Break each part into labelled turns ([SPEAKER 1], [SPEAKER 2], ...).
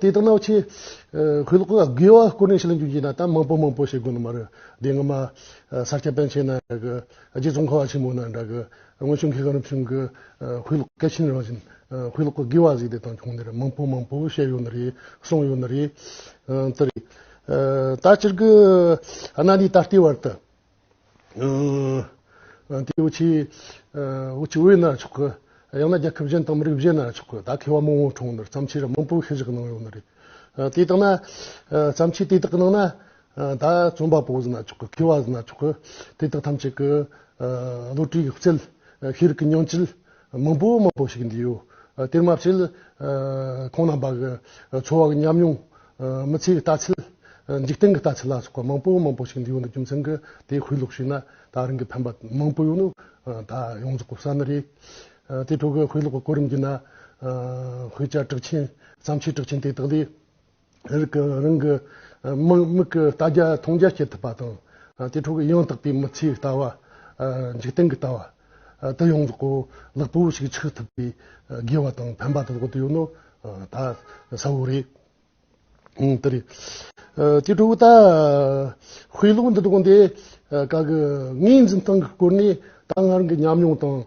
[SPEAKER 1] དེ་ལྟར་ན་ཆེས་གལ་དགོས་པ་ཀུན་ལ་བྱེད་ལ་འཇུག་ཅེ་ན་ད་མང་པོ་མང་པོ་བྱེད་དགོས་ནི་མ་རེད་དེ་སྔ་མ་ས་སྐྱ་པཎ་ཆེན་ན་འདྲ་གི་རྗེ་ཙོང་ཁ་བ་ཆེན་མོ་ན་འདྲ་གི་སྔོན་བྱུང་མཁས་གང་རབ་བྱུང་གི་གུས་ལུགས་སྐད་ཆེན་རང་བཞིན་གུས་ལུགས་དགེ་བ་གཟིགས་དེ་དང་ཁྱུང་འདིར་མང་པོ་མང་པོ་བཤད་ཡོད་ནི་རེད་གསུངས་ཡོད་ནི་རེད། ད་སྤྱིར་གི་གནའ་ནས་ད་ལྟའི་བར་དུ། དེ་བོད་ཆས་བོད་ཆས་བོད་ཡིན་ན་ཆོག་གི། ཡང་ན་རྒྱལ་ཁབ་གཞན་དང་མི་རིགས་གཞན་ན་ཆོག་གི་ད་ཁེ་བ་མང་བོ་གྲོངས་ནི་བརྩམས་ཆོས་ར་མང་པོ་ཤི་བཞག་གནང་ཡོད་ནི་རེད། དེ་ལྟ་ན། བརྩམས་ཆོས་དེ་དག་གི་ནང་ན། ད་རྩོམ་པ་པོ་ཟེར་ན་ཆོག་གི་ཁེ་བ་ཟེར་ན་ཆོག་གི་དེ་དག་ཐམས་ཅད་ཀྱི། བློ་གྲོས་ཀྱི་རྩལ། ཤེས་རིག་གི་སྙིང་བཅུད། མང་པོ་མང་པོ་ཞིག་འདི་ཡོད། དེར་མ་ཕྱིར། ཁོང་རྣམས་པ་གི་འཚོ་བ་གི་ཉམས་མྱོང། མི་ཚེའི་ལྟ་ཚུལ། འཇིག་རྟེན་གྱི་ལྟ་ཚུལ་ལ་སོགས་པ་མང་པོ་མང་པོ་ཞིག་འདི་ཡོད་འདུག་རྒྱུ་མཚན་གྱི་དེ་ཧུད་ལོག་ཤེས་ན་ད་རིང་གི་ཕན་པ་མང་པོ་ཡོད་ནུ། ད་ཡོངས་རྫོགས་གསར་ནི་རེད། དེ་ཕྲུ་གུ་ཧུད་ལོག་གི་གོ་རིམ་བརྒྱུད་ན། ཧུད་ཅག་གྲགས་ཆེན་བརྩམས་ཆོས་གྲགས་ཆེན་དེ་དག་ལས། རིགས་ཀྱི་རང་གི་མིག་གིས་ལྟ་རྒྱ་མཐོང་རྒྱ་བྱེད་ཐུབ་པ་དང། དེ་ཕྲུག་གི་ཡང་དག་པའི་མི་ཚེའི་ལྟ་བ། འཇིག་རྟེན་གྱི་ལྟ་བ། དུ་ཡོངས་རྫོགས་གོ་ལག་པོ་ཞིག་ཆགས་ཐུབ་པའི་དགེ་བ་དང་ཕན་པ་དེ་དག་ཏུ་ཡོད་ནོ། ད་གསལ་བོ་རེད། དེ་རེད། དེ་ཕྲུག་ད་དཔེ་ཀློག་འདི་དག་འདི་ག་གི་ངའི་འཛིན་སྟངས་ཀྱི་སྐོར་ནས་ད་སྔ་རང་གི་ཉམས་མྱོང་དང།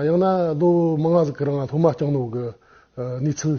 [SPEAKER 1] ཡང་ན་ལོ་མང་ཟིག་གི་རིང་སློབ་མ་སྐྱང་ནོག་གི་གནས་ཚུལ།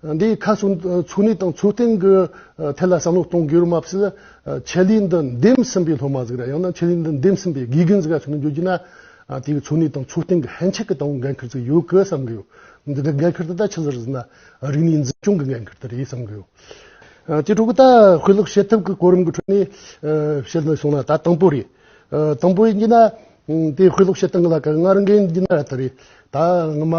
[SPEAKER 1] འདིའི་ཁ་གསུམ་ཚུགས་གནས་དང་ཚུགས་སྟེང་གི་ཐད་ལ་བསམ་བློ་གཏོང་དགོས་རུང་མ་ཟད། ཆད་ལུས་འདི་འདེམས་ཟིན་པའི་སློབ་མ་ཟིག་ར་ཡང་ན་ཆད་ལུས་འདི་འདེམས་ཟིན་པའི་དགེ་རྒན་ཟིག་ར་ཚུད་ནས་འགྱུར་གྱི་ན། དེའི་ཚུགས་གནས་དང་ཚུགས་སྟེང་གི་ཧན་ཆེ་གི་ལྟ་བ་འགན་འཁུར་ཟིག་ཡོད་དགོས་བསམ་གི་ཡོད། འདི་འདྲ་འགན་འཁུར་དེ་དག་ཆེ་ཟེར་ཟིན་ན་རིག་གནས་འཛིན་སྐྱོང་གི་འགན་འཁུར་དེ་རེད་བསམ་གི་ཡོད། དེ་ཕྲུ་གུ་དག་དཔེ་ཀློག་བྱེད་ཐབས་ཀྱི་གོ་རིམ་གྱི་ཁྲོད་ནས་བཤད་ཟིན་སོང་ན་ད་དང་པོ་རེད། དང་པོའི་གཉིས་ན་དེའི་ཧུད་ལོག་ཤེས་སྟངས་ལ་གང་སྔར་འགན་འདི་ན་ར་ཐ་རི། ད་སྔ་མ་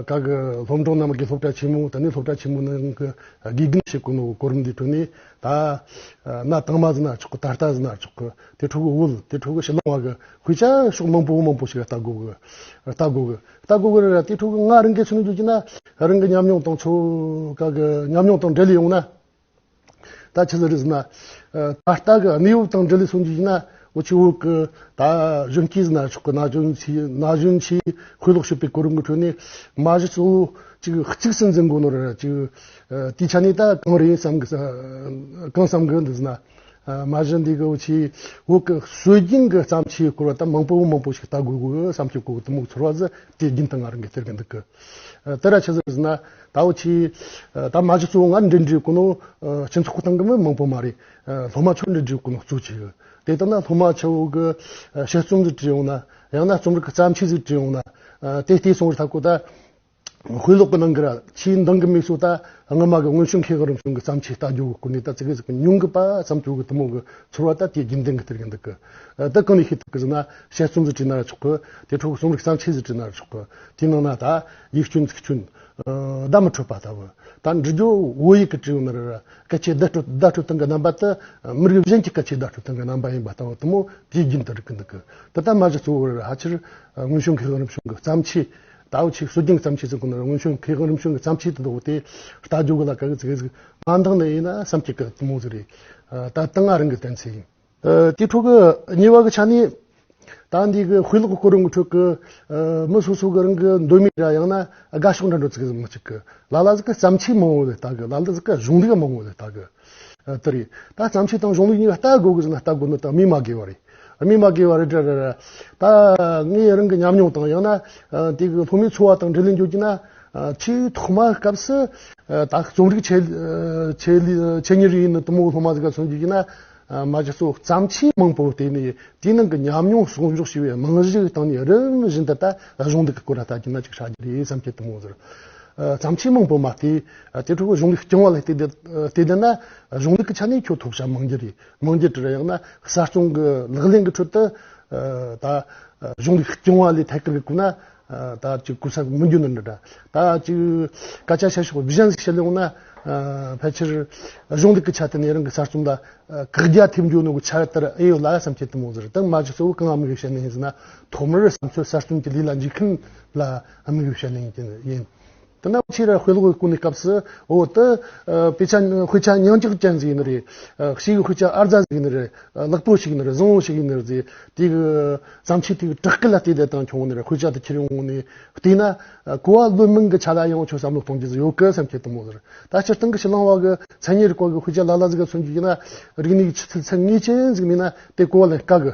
[SPEAKER 1] ག་གི་སློབ་འབྲོང་རྣམས་ཀྱི་སློབ་གྲྭ་ཆེན་མོ་ད་ནི་སློབ་གྲྭ་ཆེན་མོ་ནང་གི་དགེ་རྒན་ཞིག་གོ་ནོ་གོ་རིམ་འདི་དྲུད་ནས་ད་ན་དང་མ་ཟིན་ན་ཆོག་གི་ད་ལྟ་ཟིན་ན་ཆོག་གི་དེ་ཕྲུ་གུ་དབུལ་དེ་ཕྲུ་གུ་ཕྱི་ལོང་བ་གི་ཧུད་ཆ་ཤོག་མང་པོ་མང་པོ་ཞིག་ར་ལྟ་དགོ་གི་ར་ལྟ་དགོ་གི་ལྟ་དགོ་གི་ར་དེ་ཕྲུ་གུ་སྔར་འགན་ཆུང་ནས་རྒྱུག་ཀྱིན་ན་རང་གི་ཉམས་མྱོང་དང་ཆོ་ག་གི་ཉམས་མྱོང་དང་འབྲེལ་ཡོང་ན་ད་ཆ་ལ་རིགས་ན། ད་ལྟ་གི་གནས་བབ་དང་འབྲེལ་ལས་གསུངས་རྒྱུ་ཡིན་ན། བོད་ཕྱི་བོད་ཀྱི་ད་གཞོན་སྐྱེས་སུ་ན་ཆོག་གི་ན་གཞོན་ཆེའི་ན་གཞོན་ཆེའི་ཁོས་ལོག་ཤོད་པའི་གོ་རིམ་གྱི་ཁྲོད་ནས། མ་གཞི་གཙོ་བོ་ཅིག་གཅིག་སྲིད་འཛིན་མགོ་ནོར་ཅིག། དེའི་ཆ་ནས་ད་གང་རེད་བསམ་གི་གང་བསམ་གི་འདུག་ཟེར་ན། མ་གཞི་འདི་གའི་ཆེའི་བོད་ཀྱི་སྲོལ་རྒྱུན་གྱི་བརྩམས་ཆོས་སྐོར་བ་ད་མང་པོ་མང་པོ་ཞིག་ལྟ་དགོས་པའི་བསམ་སྤྱོད་ཀྱི་འོག་ཏུ་མུག་ཚོར་བ་ཟེར་དེ་རྒྱུན་དུ་ང་རང་གིས་སྟེར་གི་འདུག་གི། དེ་ར་ཆི་ཟིག་ཟིན་ན་ད་འོ་ཆི། ད་མ་ཆི་གཙོ་བོ་ང་འདྲེ་འདྲེ་ཀུ་ནོ། ཆི་མཚོ་ཁུ་ཐང་གི་མི་མང་པོ་མ་རེད། སློ་མ་ཆོ་འདྲེ་འདྲེ་ཀུ་ནོ་གཙོ་ཆི། དེ་ལྟ་ན་སློ་མ་ཆོ་གི་ཤེས་རྩོམ་ཟིག་བྲི་ཡོང་ན། ཡང་ན་རྩོམ་རིག་གི་བརྩམས་ཆོས་ཟིག་བྲི་ཡོང་ན། དེ་ལྟའི་སོང་རི་ཐ་ཀོ་ད། ཧུའི་ལོག་གི་ནང་གི་ར་ཆིའི་མདང་གི་མིག་སོ་ད། སྔ་མ་གི་སྔོན་བྱུང་མཁས་ག་རུམ་བྱུང་གི་བརྩམས་ཆོས་ལྟ་རྒྱུ་གི་ཀུ་ནི་ད་ཙི་གི་ཟིག་གི་ཉུང་གི་པ་ཙམ་དུ་གི་དུ་མོ་གི་ཚོར་བ་ད་དེའི་རྒྱུན་ལྡན་གི་དེ་རེད་འདུག་གི། ད་གང་ནས་ཤེས་ཐུབ་གི་ཟིག་ན་ཤེས་རྩོམ་ཟིག་བྲི་ན་ར་ཆོག་གི། དེ་འཕྲོ་གི་རྩོམ་རིག་བརྩམས་ཆོས་ཟིག་བྲི་ན་ར་ཆོག་གི། དེའི་ནང་ན་ད་ཡིག་སྐྱོན་ཚིག་སྐྱོན། བརྡ་མི་འཕྲོད་པ་ལྟ་བུ། ད་འབྲི་རྒྱུ་བོད་ཡིག་གི་དྲི་མེད་སྐད་ཆའི་བརྡ་སྤྲོད་སྟངས་ཀྱི་རྣམ་པ་དེ་མི་རིགས་གཞན་གྱི་སྐད་ཆའི་བརྡ་སྤྲོད་སྟངས་ཀྱི་རྣམ་པ་ཡིན་པ་ལྟ་བུ་དུ་མོ་དེའི་རྒྱུན་དུ་རིག་གི་འདུག་ད་ལྟ་མ་གཞི་གཙོ་བོ་ཧ་ཆེར་དངོས་བྱུང་མཁས་དབང་རིམ་བྱུང་གི་བརྩམས་ཆོས་ད་ཨོ་ཆི་སྲོལ་རྒྱུན་གྱི་བརྩམས་ཆོས་ཚོ་ཁོ་ནར་དངོས་བྱུང་མཁས་དབང་རིམ་བྱུང་གི་བརྩམས་ཆོས་དེ་འདོགས་ཏེ་ལྟ་རྒྱུ་ག་ལ་ག་གི་ཚིག་གཟིགས་མ་འདང་ནི་ཡིན་ན་བསམ་གྱི་གི་དུ་མོ་ཟིག་རེད་ད་ལྟ་ང་རང་གི་གཏན་ཚིགས་ཡིན། དེའི་ཁྲོད་ཀྱི་ཉེ་བར་གྱི་ཆ་ནས། ད་འདས་ཀྱི་དཔེ་ཀློག་གི་སྐོར་རིང་གི་ཁྲོད་ཀྱི། མི་སོ་སོ་གྱི་རང་གི་འདོད་མོས་ར་ཡང་ན་དགའ་ཕྱོགས་འདྲ་འདྲ་ཚིག་མི་གཅིག་གི་ལ་ལ་ཟིག་གི་བརྩམས་ཆོས་མང་བོ་ལས་བལྟ་གི་ལ་ལ་ཟིག་གི་གཞུང་ལུགས་མང་བོ་ལས་བལྟ་གི། དེ་རེད། ད་བརྩམས་ཆོས་དང་གཞུང་ལུགས་གཉིས་ལ་བལྟ་དགོས་གི་ཟིན་ན་བལྟ་དགོས་ནི་དང་སྨིན་མ་དགོས་བ་རེད། སྨིན་མ་དགོས་བ་རེད་དྲ་ར་ར། ད་ངའི་རང་གི་ཉམས་མྱོང་དང་ཡང་ན། དེ་གི་ལྷོ་མའི་འཚོ་བ་དང་འབྲེལ་ལེན་བརྗོད་ཀྱི་ན། ཆེས་ཐོག་མ་སྐབས་སུ། ད་རྩོམ་རིག་ཆེད། ཆེད་ཉེར་ཡིན་ནི་དུ་མོ་ལྷོ་མ་ཟིག་ག་མཚོན་བརྗོད་ཀྱི་ན། མ་གཞི་སོ་བརྩམས་ཆོས་མང་པོ་དེ་ནི་དེའི་ནང་གི་ཉམས་མྱོང་གསོག་འཇོག་བྱས་པའི་རྨང་གཞིའི་སྟེང་ནས་རིམ་བཞིན་འདི་ལྟ་གཞུང་འདི་གི་སྐོར་ལ་ལྟ་རྒྱུ་ན་ཅིག་བྱ་རྒྱུ་རེད་བསམ་གྱི་འདུག་མོད། བརྩམས་ཆོས་མང་པོ་མ་སྟེ་དེ་ཕྲུ་གུ་གཞུང་གི་རྐྱང་བ་ལ་བལྟས་བསྡད་ན་གཞུང་འདི་གི་ཆ་ནས་ཁྱོད་ཐུགས་ཞྭ་མང་རྒྱུ་རེད་མང་རྒྱུ་དྲན་ཡང་ན་གསར་རྐྱང་གི་ལག་ལེན་གྱི་ཁྲོད་དུ་ད་གཞུང་གི་རྐྱང་བ་ལས་ཐད་ཀར་གི་གོ་ན་ད་ཅིག་སྐུ་ཚབ་མི་འགྱུར་ན་འདྲ། ད་ཅིག་སྐད་ཆ་བཤད་ཤོག་བཞིན་བཤད་ལོང་ན། ཕལ་ཆེར་གཞུང་ལུགས་ཀྱི་ཆ་དེ་ནས་རང་གི་གསར་རྩོམ་ལ་བཀག་རྒྱ་ཐེབས་འགྱུར་ནོ་གི་ཆ་རེ་ལྟར་ཨེ་ཡོད་ལ་བསམ་སྐྱེ་གཏོང་ཟེར་དང་མ་ཇི་གཙོ་བོ་གང་དམིགས་ཡོད་བཤད་ནི་ཡིན་ཟེར་ན་ཐོག་མར་བསམ་ཚུལ་གསར་རྩོམ་གྱི་ལུས་ལ་འཇུག་མཁན་ལ་དམིགས་ཡོད་བཤད་ནི་ཡིན། དེ་ནི་ཕྱིར་དཔེ་ཀློག་གི་སྐུ་ནི་སྐབས་སུ་འོ་དེ། དཔེ་ཆ་དཔེ་ཆ་ཉིང་ཅིག་ཅན་ཟིག་ཡིན་ནི་རེད། གཤིས་ཀྱི་དཔེ་ཆ་ཨར་རྫ་ཟིག་ཡིན་ནི་རེད། ལེགས་པོ་ཞིག་ཡིན་ནི་རེད་བཟང་བོ་ཞིག་ཡིན་ནི་རེད། དེ་གི་བརྩམས་ཆོས་དེ་གི་དྲག་སྐུད་ལ་བལྟས་བསྡད་དང་ཁྱོང་ནི་རེད་དཔེ་ཆ་དེ་ཁྱེར་ཡོང་ནི་བལྟས་ན། གོ་བ་བློས་མིང་གི་ཆ་ལ་ཡང་ཁྱོད་བསམ་བློ་གཏོང་རྒྱུ་ཟིག་ཡོད་གི་སེམས་སྐྱེད་དུ་མོ་ཟེར། ད་སྤྱིར་བཏང་གི་ཕྱི་གླིང་བ་གི་མཚན་ཉིད་རི་སྐོར་གི་དཔེ་ཆ་ལ་ལ་ཟིག་ག་མཚོན་རྒྱུ་ཡིན་ན། རིག་གནས་ཀྱི་ཆུ་ཚད་ཚད་ངེས་ཅན་ཟིག་མིན་ན་དེ་གོ་བ་ལེན་དཀའ་གི།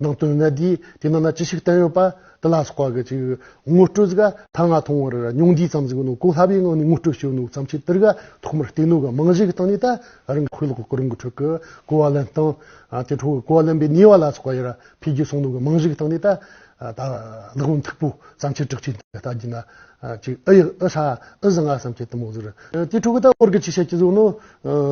[SPEAKER 1] ནང་དོན་གནད་བསྡུས་དེ་ནང་ན་ཅི་ཞིག་བསྟན་ཡོད་པ་དེ་ལ་སོགས་པ་ཅིག་ངོ་སྤྲོད་གཟིགས་ཀ་ཐ་ང་མཐོང་བར་སྙུང་བསྡུས་ཙམ་གཟིགས་ནོ་གོ་སླ་བའི་ངང་ནས་ངོ་སྤྲོད་བྱེད་ནུས་ཙམ་བྱེད་དེར་ག་ཐོག་མར་སྟེང་ནོ་ག་མང་བཞི་གི་སྟེང་ནས་ད་རིང་ཁོས་ལོག་གོ་རིང་གི་ཁྲོད་ཀྱི་གོ་བ་ལེན་སྟངས་དེ་ཁྲོད་ཀྱི་གོ་བ་ལེན་པའི་ནུས་བ་ལ་སོགས་པ་ཡར་འཕེལ་རྒྱས་སོང་ནོ་ག་མང་བཞི་གི་སྟེང་ནས་ད་ད་ལག་ལེན་མཐུག་པོ་ཙམ་བྱེད་དྲག་བྱེད་དེ་ལྟ་བགྱིས་ན་ཅིག་ཨི་ཡག་ཨི་ཧྲ་ཨི་བཟང་ང་བསམ་བྱེད་དུ་མོ་ཟེར་དེ་ཁྲོད་ཀྱི་ད་བོར་གྱི་ཅི་བྱེད་ཅི་བཟོ་ནོ་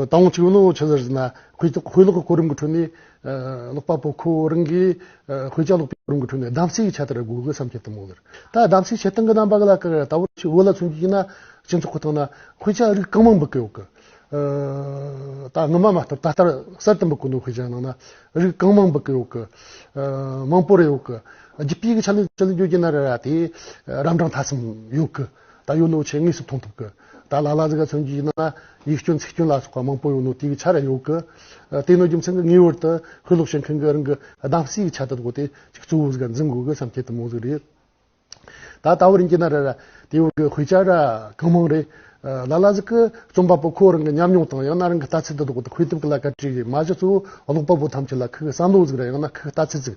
[SPEAKER 1] ད་འོང་ཅིག་ནོ་ཆི་ཟེར་ཟིན་ན་ཁོས་ལོག་གོ་རིང་གི་ཁྲོད་ནས་ཀློག་པ་པོ་ཁོ་རང་གིས་དཔེ་ཆ་ཀློག་པའི་རུམ་གྱི་ཁྲོད་ནས་གདམ་གསེས་ཀྱི་ཆ་དེར་སྒུག་དགོས་བསམ་གྱི་གཏམ་མོ་ལེར་ད་གདམ་གསེས་བྱེད་སྟངས་ཀྱི་རྣམ་པ་ག་ལ་ག་རེ་ད་བར་ཆུ་བོ་ལ་མཚོན་རྒྱུ་ཡིན་ན་སྤྱི་ཚོགས་ཁོ་ཐག་ན་དཔེ་ཆ་རིགས་གང་མང་འབུལ་གི་ཡོད་གི། ད་སྔོན་མ་མ་བཏབ་ད་ལྟར་གསར་དུ་འབུལ་དགོས་འདུག་དཔེ་ཆའི་ནང་ན་རིགས་གང་མང་འབུལ་གི་ཡོད་གི། མང་པོ་རེད་ཡོད་གི། བརྒྱུད་སྤེལ་གྱི་ཆ་ལས་ཆ་ལས་འགྱུར་གྱི་ན་རེ་ར་དེ་རབ་འབྲང་ཐ་ཚིམ་ཡོད་གི། ད་ཡོད་ནོ་ཆེ་དངོས་སུ་མཐོང་ཐུབ་གི། ད་ལ་ལ་ཟིག་ག་ཚོན་གྱིས་ཡིན་ན་ཡིག་སྐྱོན་ཚིག་སྐྱོན་ལ་སོགས་པ་མང་པོ་ཡོད་ནོ་དེའི་ཆ་རེ་ཡོད་གི། དེ་ནི་རྒྱུ་མཚན་གི་ངེས་བར་དུ་ཤུལ་ལོག་བྱེད་མཁན་གྱི་རང་གི་གདམ་གསེས་ཀྱི་ཆ་དེ་དགོས་ཏེ་གཅིག་གཙོ་བོ་ཟིག་ག་འཛིན་དགོས་གི་བསམ་ཁྱད་དུ་མོ་ཟིག་རེད། ད་ལྟ་བུར་འགྱིས་ན་རེ་ར་དེ་ཡོད་གི་ཧུད་ཅག་ར་གང་མང་རེད། ལ་ལ་ཟིག་གི་རྩོམ་པ་པོ་ཁོ་རང་གི་ཉམས་མྱོང་དང་ཡང་ན་རང་གི་ལྟ་ཚུལ་དེ་དག་གི་འཁོན་ཐུབ་ཀྱི་ལ་ཀ་བྲིས་ཡོད་མ་གཞི་གཙོ་བོ་ཀློག་པ་པོ་ཐམས་ཅད་ལ་ཁོའི་བསམ་བློ་ཟིག་ར་ཡང་ན་ཁོའི་ལྟ་ཚུལ་ཟིག་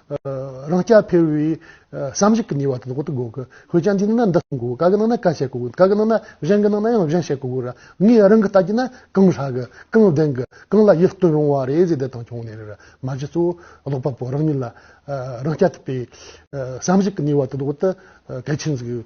[SPEAKER 1] རང་སྐྱ་འཕེར་བའི་བསམ་གཞིག་གི་ནུས་བ་དེ་དག་ཏུ་དགོས་ཀི་ཧོས་ཀྱང་དེའི་ནང་ན་འདི་གསུངས་དགོས་ག་གི་ནང་ན་ག་བཤད་དགོས་ག་གི་ནང་ན་གཞན་གི་ནང་ན་ཡང་གཞན་བཤད་དགོས་གི་ར་ངས་རང་གི་ལྟ་རྒྱུ་ན་གང་ཧྲ་གི་གང་བདེན་གི་གང་ལ་ཡིད་རྟོན་རུང་བ་རེད་ཟེར་བསྡད་དང་བྱུང་ནས་རེད་མ་གཞི་གཙོ་བོ་ཀློག་པ་པོ་རང་ཉིད་ལ་རང་སྐྱ་འཐིབ་པའི་བསམ་གཞིག་གི་ནུས་བ་དེ་དག་ཏུ་གལ་ཆེན་ཟིག་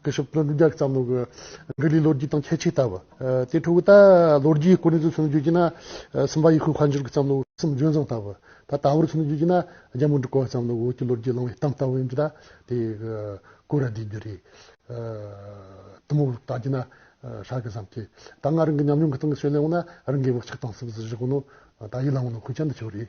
[SPEAKER 1] སྐུ་ཞབས་ཀླུ་སྒྲུབ་རྒྱལ་བསམ་བློ་གྱི་འགུལ་ལས་ལོ་རྒྱུས་དང་ཁྱད་ཆོས་ལྟ་བ། དེའི་ཁྲོད་ད་ལོ་རྒྱུས་སྐོར་ནས་ཚུར་བརྗོད་ཀྱིས་ན། སུམ་པ་ཡུལ་ཤུལ་དཔལ་འབྱོར་གྱི་བསམ་བློ་གསུམ་ལྗོན་བཟང་ལྟ་བུ། ད་ལྟ་བུར་ཚུར་བརྗོད་ཀྱིས་ན་རྒྱལ་མོ་འབྲུག་གི་བསམ་བློ་འོད་ཀྱི་ལོ་རྒྱུས་བླངས་བའི་གཏམ་ལྟ་བུ་ཡིན་གྱི་ད་དེ་གོ་ར་འདྲི་རྒྱུ་རེད། དུམ་བུར་བལྟ་གྱིས་ན་ཧྲ་གི་བསམ་ཁྱད་ད་སྔ་རང་གི་ཉམས་མྱོང་གི་སྟེང་གི་ཤོད་ལས་འོངས་ན་རང་གི་བག་ཆགས་དང་སེམས་གསོ་གཞི་གོ་ནོ། ད་ཡིད་ལ་འོངས་ན་ཁུལ་ཆ་འདི་ཆོས་རེད།